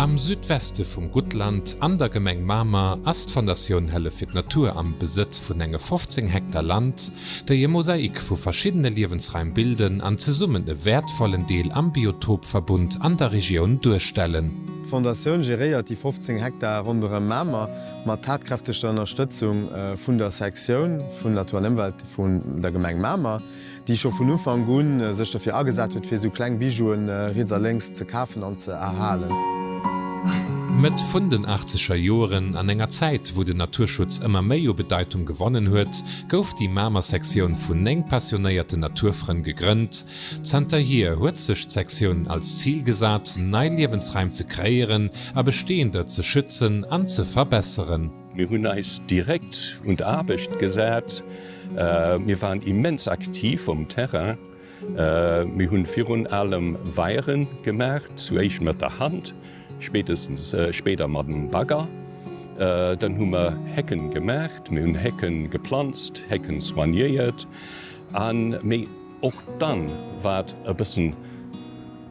Am Südweste vum Guttland an der Gemeng Mamer ass d'Fondatioun Hëllef fir d'Natur am Besëtz vun enge 15 Hektar Land, déi e Mosaik vu verschiddene Liewensraim bilden an zesummen e wäertvollen Deel am Biotopverbund an der Regioun duerstellen. D'Fondatioun geréiert déi 15 Hektar ronderëm Mamer mat tatkräftegter Ënnerstëtzung vun der Sektioun vun Natur an Ëmwelt vun der Gemeng Mamer. déi scho vun Ufank un sech dofir agesat huet, fir esou kleng Bijouen riets a lénks ze kafen an ze erhalen. Mëtt vun den achtzeger Joeren, an enger Zäit, wou den Naturschutz ëmmer méi u Bedeitung gewonnen huet, gouf déi Mamer Sektioun vun 9 passionéierten Naturfrënn gegrënnt. Zanterhier huet sech d'Sektioun als Zil gesat, nei Liewensraim ze kreéieren a besteeënder ze schützen an ze verbesseren. Mir hunn eis direkt un d'Aarbecht gesat. Mir waren immens aktiv um Terrain. Mir hunn virun allem Weiere gemaach, zu éischt mat der Hand, spéitestens spéider mat dem Bagger. Dann hu mer Hecken gemaach, mir hunn Hecken geplanzt, Hecken soignéiert. Mee och dann, wat e bëssen,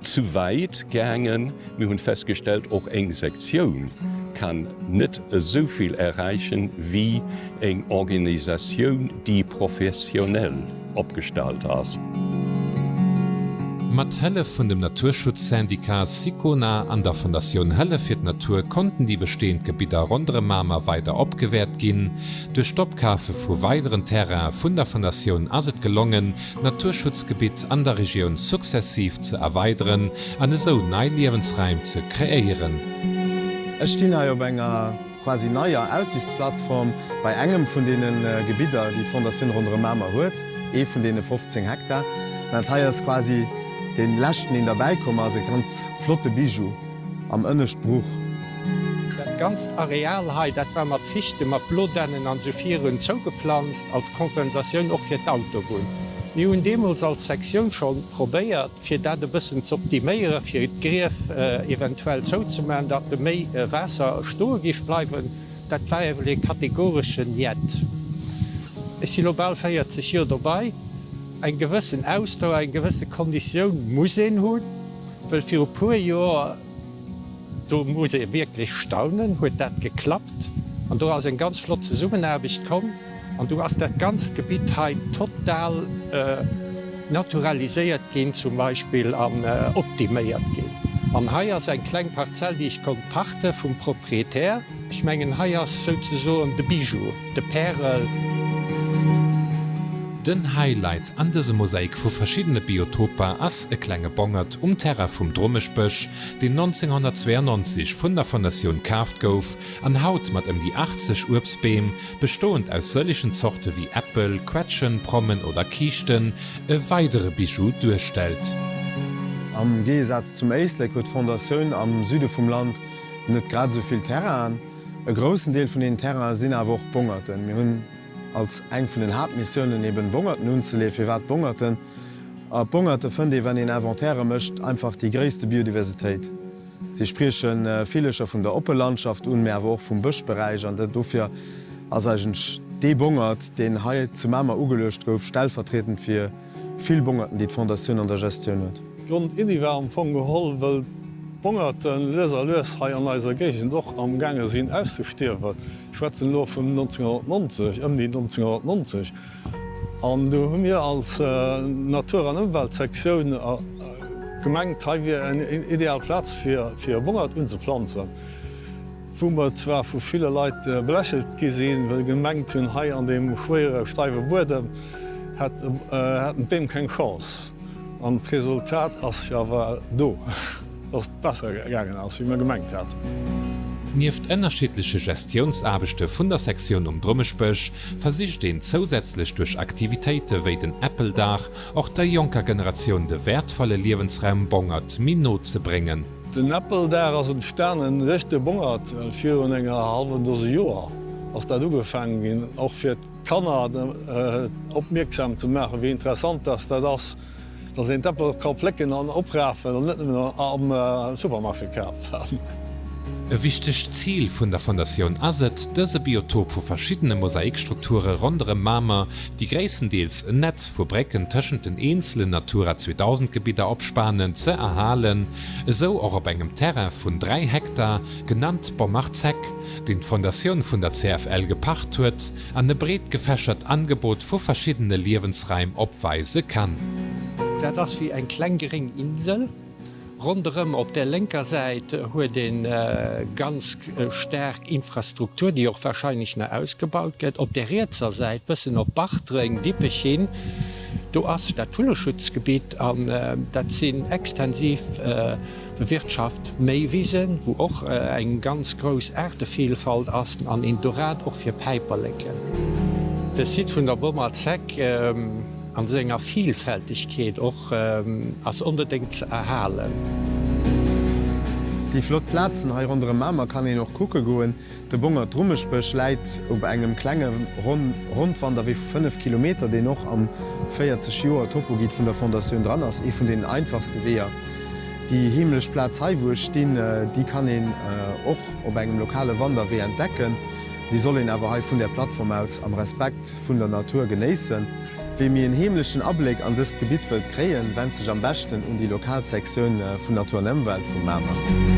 Zu wäit gaangen. Mir hunn festgestellt, och eng Sektioun kann net esou vill erreichen wéi eng Organisatioun déi professionell opgestallt ass. Mat Hëllef vun dem Naturschutzsyndicat Sicona an der Fondatioun Hëllef fir d'Natur konnten déi bestehend Gebidder ronderëm Mamer weider opgewäert ginn. Duerch d'Opkafe vu weideren Terraine vun der Fondatioun ass et gelongen, d'Naturschutzgebitt an der Regioun successiv ze erweideren an esou nei Liewensraim ze kreéieren. Ech stinn hei op enger quasi neier Aussichtsplattform bei engem vun deene Gebidder, déi d'Fondatioun Ronderëm Mamer huet, ee vun deene 15 Hektar. Dat hei ass quasi dee leschten, deen derbäikomm ass, e ganz flotte Bijou. am ënnescht Bruch. Dat ganzt Areal hei, dat war mat Fichte, mat Blodennen an esou virun zougeplanzt, als Kompensatioun och fir d'Autobunn. Mir hunn deemools als Sektioun scho probéiert, fir dat e bëssen z'optiméieren, fir d'Grief eventuell zouzemaachen, datt do méi Waasser stoe géif bleiwen. Dat war ewell ee kategoresche Njet. Ech si lo bal 40 Joer dobei. Eng gewëssen Ausdauer, eng gewësse Konditioun muss een hunn. Well viru puer Joer, do muss ee wierklech staunen, huet dat geklappt an do ass eng ganz flott Zesummenaarbecht komm an do ass dat ganzt Gebitt hei total naturaliséiert ginn zum Beispill an optiméiert ginn. An hei ass eng kleng Parzell, déi ech konnt pachte vum Proprietär. Ech mengen hei ass souzesoen de Bijou, de Pärel. Den Highlight an dësem Mosaik vu verschiddene Biotoper ass e klenge Bongert um Terrain vum Drommeschbësch, deen 1992 vun der Fondatioun kaaft gouf an haut mat ëm déi 80 Uebstbeem, bestoend aus sëllegen Zorte wéi Äppel, Quetschen, Prommen oder Kiischten, e weidere Bijou duerstellt. Am Géigesaz zum Éislek huet d'Fondatioun am Süde vum Land Net grad esou vill Terrainen. E groussen Deel vun deenen Terrainen sinn awer och Bongerten. Mir hunn als eng vun den Haaptmissiounen eben Bongerten unzeleeën. Firwat Bongerten? A Bongerten fënnt ee, wann een Inventairë mécht, einfach déi gréisste Biodiversitéit. Si sprieche Villecher vun der oppe Landschaft un, mä awer och vum Bëschberäich. An dofir ass eigentlech dee Bongert, deen hei zu Mamer ugeluecht gouf, stellvertrietend fir. Vill Bongerten, déi d'Fondatioun an der Gestioun huet. D'Grond Iddi war am Fong geholl, wëll d'Bongerten lues a lues hei an eiser Géigend och am gaange sinn auszestierwen. Ech schwätzen elo vun 1990, ëmni 1990. An do hu mir als Natur an Ëmweltsektioun gemengt, hei wier en ideal Plaz fir e Bongert unzeplanzen. Wou mer zwar vu ville Leit belächelt gi sinn, well se gemengt hunn, hei an deem schwéiere steiwe Buedem hätten d'Beem keng Chance. An d'Resultat ass jo awer do, dass et besser gaangen ass, wéi mer gemengt haten. Nieft ënnerschiddleche Gestiounsaarbechte vun der Sektioun um Drummeschbësch versicht een zousätzlech duerch Aktivitéite wéi den Äppeldag och der jonker Generatioun de wäertvolle Liewensraum Bongert méi no ze bréngen. Den Äppeldag ass entstanen Richte Bongert, well virun enger hallwen Dose Joer ass dat ugefaangen ginn, och fir d'Kanner opmierksam ze maachen, wéi interessant dass dat ass, dass een d'Äppel ka plécken an oprafen an net nëmmen am Supermarché kafen. E wichtegt Zil vun der Fondatioun ass et, dëse Biotop vu verschiddene Mosaikstrukture ronderëm Mamer, déi gréisstendeels en Netz vu Brécken tëschent den eenzelen Natura 2000 Gebidder opspanen, ze erhalen, esou och op engem Terrain vun 3 Hektar, genannt Bommerzeg, deen d'Fondatioun vun der CFL gepacht huet an e breet gefächert Angebot vu verschiddene Liewensraim opweise kann. Dat ass wéi eng kleng gréng Insel. Ronderëm op där lénker Säit huet ee ganz staark Infrastruktur, déi och wahrscheinlech nach ausgebaut gëtt. Op där rietser Säit, bëssen op Bartreng, Dippech hin, do ass dat Vulleschutzgebitt an dat sinn extensiv bewirtschaft Méiwisen, wou och eng ganz grouss Aartevielfalt ass an een Dorade och fir Päiperleken. De Site vun der Bommer Zeck. An senger Vielfältegkeet och, ass onbedéngt ze erhalen. Déi flott Plazen hei ronderem Mamer kann een och kucke goen. De Bongert Rummesbësch läit op engem klenge Rondwanderwee vu 5 Kilometer, deen och am 40 Joer Topoguide vun der Fondatioun dran ass. Ee vun den einfachste Weeër. Déi heemlech Plaz hei wou ech stinn, déi kann een och op engem lokale Wanderwee entdecken. Déi soll een awer hei vun där Plattform aus am Respekt vun der Natur genéissen. Wee mir en heemlechen Abléck an dëst Gebitt wëllt kréien, wend sech am beschten un déi lokal Sektioun vun Natur an Ëmwelt vu Mamer.